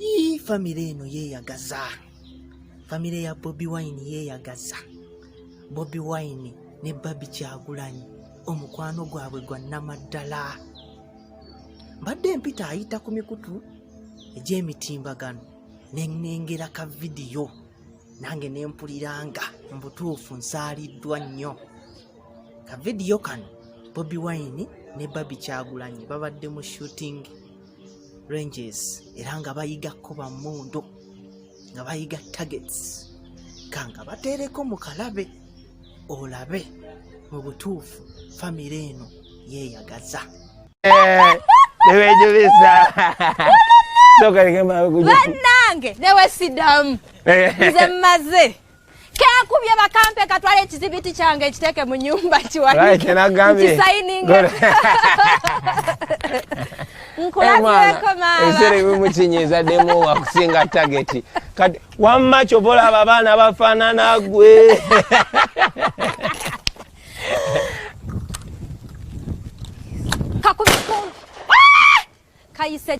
Ii, famire eno yeeyagaza famire ya bobi wine yeeyagaza bobi wine ne babi kyagulanyi omukwano gwabwe gwa namaddala mbadde mpita ayita ku mikutu egy'emitimbagano nenengera ka vidiyo nange nempuliranga mu butuufu nsaaliddwa nnyo ka vidiyo kano bobi wine ne babi kyagulanyi babadde mu shootingi ranges era nga bayiga kuba mundu nga bayiga targets kanga batereko mu kalabe olabe mu butuufu famire eno yeeyagaza eh, newejubiza banange newesidamu eh. nze mmaze kekubye bakampe katwala ekizibiti kyange ekiteeke mu nyumba kiwakisayininga nkulabyeko maamaeserebimukinyizaddemu wakusinga tageti kati wamma kyova olaba abaana bafaanana gwe kakubye kumpi ah! kayise